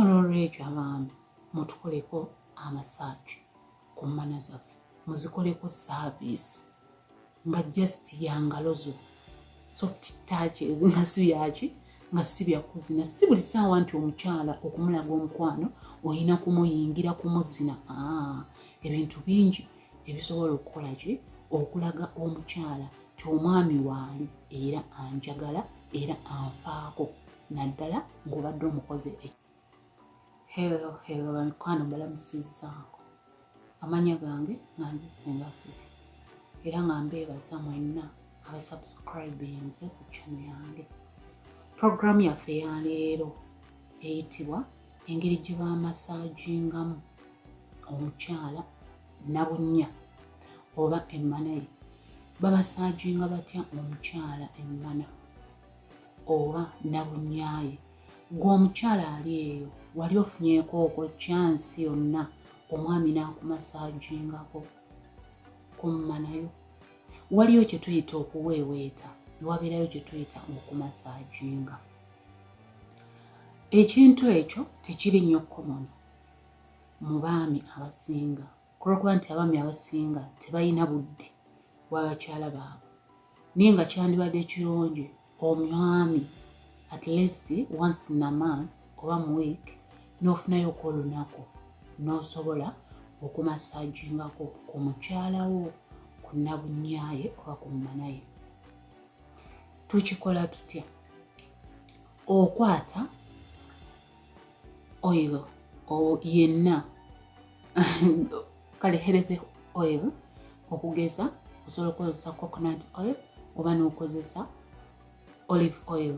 olwekyo abaami mutukoleko amasaagi ku mmana zaffe muzikoleko saaviisi nga just yangalo zo soft touch ezinga si byaki nga si byakuzina si buli saawa nti omukyala okumulaga omukwano olina kumuyingira kumuzina ah, ebintu bingi ebisobola okukola ki okulaga omukyala ti omwami waali era anjagala era anfaako naddala ng'obadde omukoze e helo helo bamikwano balamusizaako amanya gange nga nze singaffe era nga mbeebaza mwenna abasubscribinze ku chano yange puroguramu yaffe ya leero eyitibwa engeri gye bamasagingamu omukyala nabunnya oba emmana ye babasaginga batya omukyala emmana oba nabunyaye gwe omukyala ali eyo wali ofunyeko oko kyansi yonna omwami nakumasajingako kummanayo waliyo kyetuyita okuweeweeta newabeerayo kyetuyita okumasajinga ekintu ekyo tekiri nnyo komoni mu baami abasinga ku lw'okuba nti abaami abasinga tebalina budde bwa bakyala baabwe naye nga kyandibadde ekirungi omwami at least once in a month oba mu week n'ofunayo oku olunaku n'osobola okumasajingako ku mukyala wo ku nabunyaye oba ku mumanaye tukikola tutya okwata oil yenna kale healthy oil okugeza osobola okukozesa coconut oil oba n'okozesa olive oil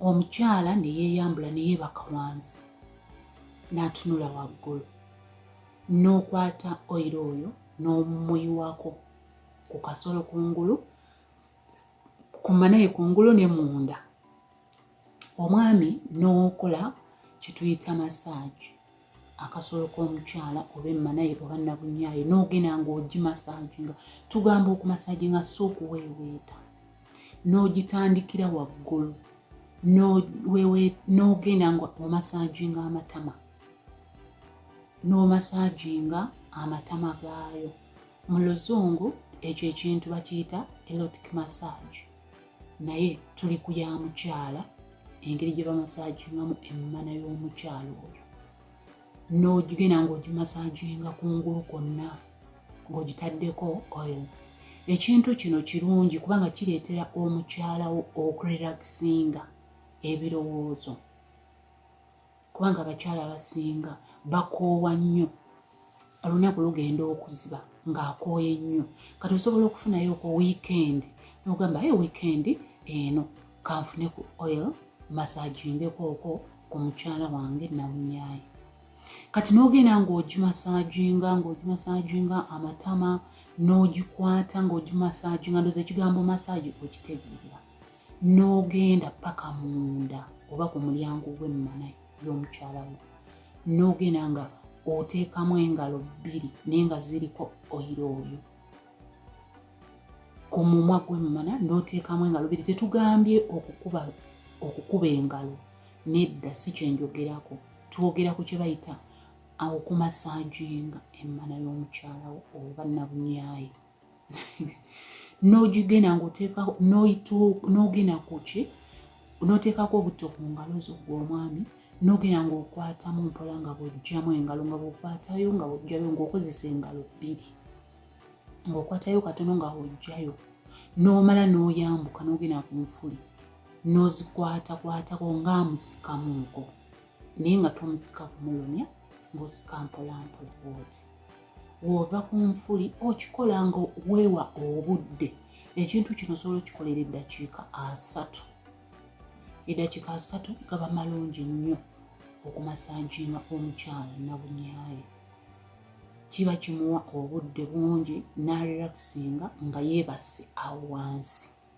omukyala neyeyambula neyebaka wansi n'atunula waggulu n'okwata oyiro oyo n'omumuyiwako ku kasolo kungulu kumanaye kungulu ne munda omwami n'okola kyetuyita masaagi akasolo k'omukyala oba emmanaye oba nabunyaye n'ogenda ng'ogimasaaginga tugamba okumasaaginga si okuweeweeta n'ogitandikira waggulu n'ogenda nga omasaaginga amatama n'omasaaginga amatama gaayo mu luzungu ekyo ekintu bakiyita elotic massage naye tuli ku ya mukyala engeri gye bamasagingamu emmana y'omukyala oyo n'ogigenda ng'ogimasaginga ku ngulu kwonna ng'ogitaddeko oil ekintu kino kirungi kubanga kireetera omukyalawo okurelaxinga ebirowoozo kubanga abakyala abasinga bakoowa nnyo olunaku lugenda okuziba ng'akooye nnyo kati osobola okufunayo ku wiikendi nogamba ye wiikendi eno kanfune ku oil masagingekooko ku mukyala wange nawunyaye kati nogenda ng'ogimasaginga ng'ogimasaginga amatama n'ogikwata ng'ogimasaginga ndoza ekigambo masaagi okitegeera n'ogenda paka munda oba ku mulyango gw'emmana y'omukyala wo n'ogenda nga oteekamu engalo bbiri naye nga ziriko oyiro oyo ku mumwa gw'emmana n'oteekamu engalo bbiri tetugambye okukuba okukuba engalo nedda si kyenjogerako twogera ku kyebayita okumasajinga emmana y'omukyalawo oba nabunyayi n'ogigenda ng'oteekako n'ogenda ku ki n'oteekako obutto ku ngalo zo gwe omwami n'ogenda ng'okwatamu mpola nga bw'oggyamu engalo nga bw'okwatayo nga bw'oggyayo ng'okozesa engalo bbiri ng'okwatayo katono nga bw'oggyayo n'omala n'oyambuka n'ogenda ku nfuli n'ozikwatakwatako nga musikamuuko naye nga tomusika kumulumya ng'osika mpolampola bwoti w'ova ku nfuli okikola nga weewa obudde ekintu kino osobola okikolera eddakiika asatu eddakiika asatu gaba malungi nnyo okumasanjiima omukyala nabunyaye kiba kimuwa obudde bungi n'arelaxinga nga yeebase awo wansi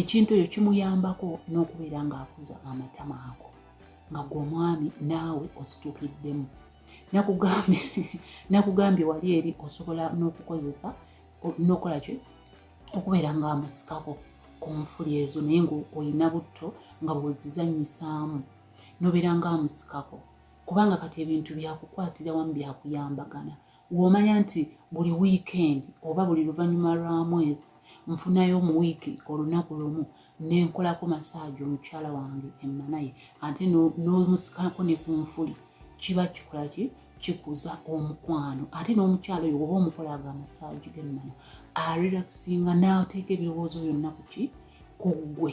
ekintu ekyo kimuyambako n'okubeera ng'akuza amatama ago nga gwe omwami naawe ositukiddemu nakugambye wali eri osobola n'okukozesa nokola ki okubeera ng'amusikako ku nfuli ezo naye ngaolina butto nga bwozizanyisaamu nobeera ng'amusikako kubanga kati ebintu byakukwatira wamu byakuyambagana womanya nti buli wiikendi oba buli luvannyuma lwa mwezi nfunayo mu wiiki olunaku lumu nenkolako masaagi omukyala wange emmanaye ate n'omusikako ne ku nfuli kiba kikola ki kikuza omukwano ate n'omukyala oyo oba omukolaga amasaagi g'emmana arelaxinga n'ateeka ebirowoozo byonna ku ki ku ggwe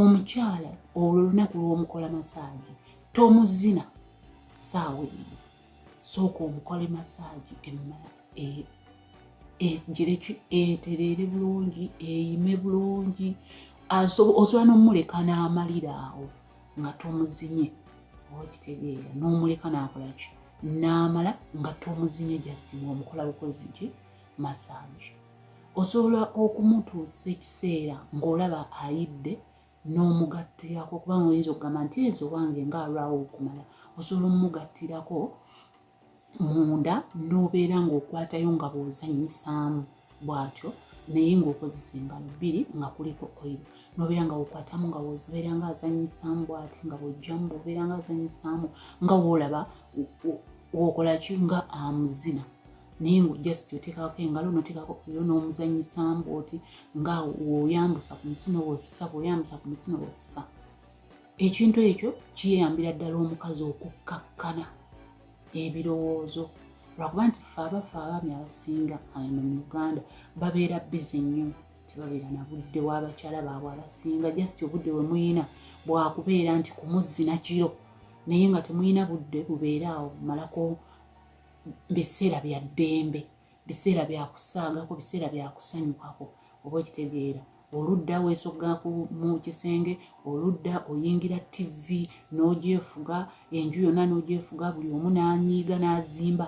omukyala olwo olunaku lw'omukola masaagi tomuzina saawa eyo sooka omukole masaagi emmala egireki e, etereere bulungi eyime bulungi osobola n'omuleka n'amalira awo nga tomuzinye oba kitegeera n'omuleka n'akolaki n'amala nga tomuzinye just ng'omukola bukozi ki masaagi osobola okumutuusa ekiseera ng'olaba ayidde n'omugattirako kubanga oyinza okugamba nti ezo owange nga alwawo okumala osobola omugattirako munda n'obeera ng'okwatayo nga bw'ozanyisaamu bw'atyo naye ng'okozesa engalo bbiri nga kuliko oil nobeera nga wokwatamu nga wobeera nga azanyisaamu bwati nga bwojjamu bwobeera nga azanyisaamu nga woolaba wokolaki nga amuzina naye nga just oteekako engalo noteekako kuyo n'omuzanyisa mbu oti nga woyambusa ku misuno wosisa bwoyambusa ku misuno wosisa ekintu ekyo kiyambira ddala omukazi okukkakkana ebirowoozo lwakuba nti fe abafe abaami abasinga ano mu uganda babeera bizi nnyo tebabeera na budde wabakyala baabwe abasinga just obudde bwe muyina bwakubeera nti kumuzzina kiro naye nga temuyina budde bubeera awo malako biseera bya ddembe biseera byakusaagako biseera byakusanyukako oba okitegeera oludda weesogga mu kisenge oludda oyingira tivi n'ogyefuga enju yonna n'ogyefuga buli omu n'anyiiga n'azimba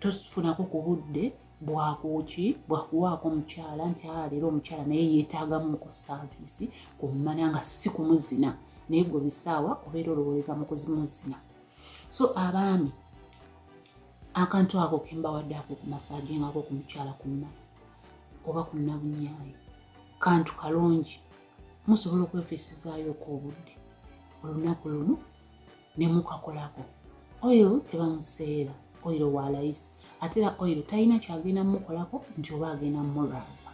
tofunako ku budde bwakuki bwakuwaako omukyala nti a ah, leero omukyala naye yeetaagamu ku saaviisi ku mmana nga si kumuzina naye gwe bisaawa obeera olowooza mu kuzimuzina so abaami akantu ako kembawadde ako ku masaje ngako ku mukyala kunna oba kunna bunyaayi kantu kalungi musobola okwefisizaayoko obudde olunaku lumu ne mukakolako oil tebamuseera oil wa layisi ate era oil talina kyagenda mumukolako nti oba agenda mumulwaza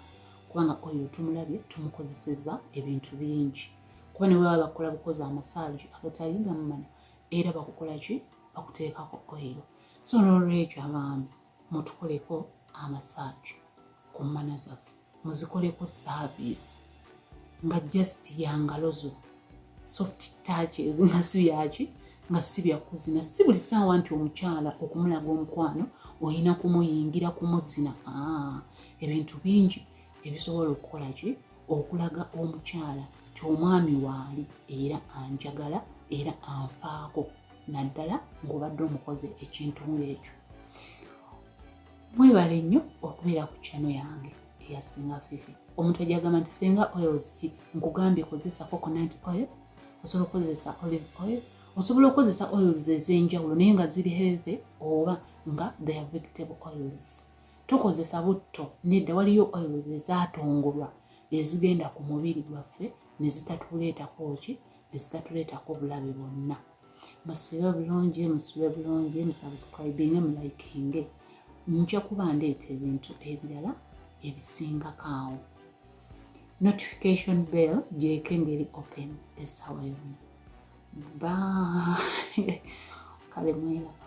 kubanga oil tumulabye tumukozeseza ebintu bingi kuba ne bwebaba bakola bukozi amasaji agatali gamumanya era bakukola ki bakuteekako oyiro so n'olwekyo abaami mutukoleko amasaagi ku mmana zaffe muzikoleko saaviisi nga just yangalo zo soft touch ezinga si byaki nga si byakuzina si buli saawa nti omukyala okumulaga omukwano olina kumuyingira kumuzina ah, ebintu bingi ebisobola okukola ki okulaga omukyala nti omwami waali era anjagala era anfaako naddala ng'obadde omukoze ekintu ng'ekyo mwebale nnyo okubeera ku kyano yange eya singa fifi omuntu ajagamba nti singa oils ki nkugambye kozesa coconut oil osobola okukozesa olive oil osobola okukozesa oils ez'enjawulo naye nga ziri healthy oba nga their vegetable oils tukozesa butto nedda waliyo oil ezatongolwa ezigenda ku mubiri gwaffe nezitatuleetako ki nezitatuleetako bulabe bwonna musibe bulungi musibe bulungi musubscribinge mulikinge nja kuba ndeeta ebintu ebirala ebisingako awo notification bell gyeko engeri open esaawa yonna ba kale mwelaba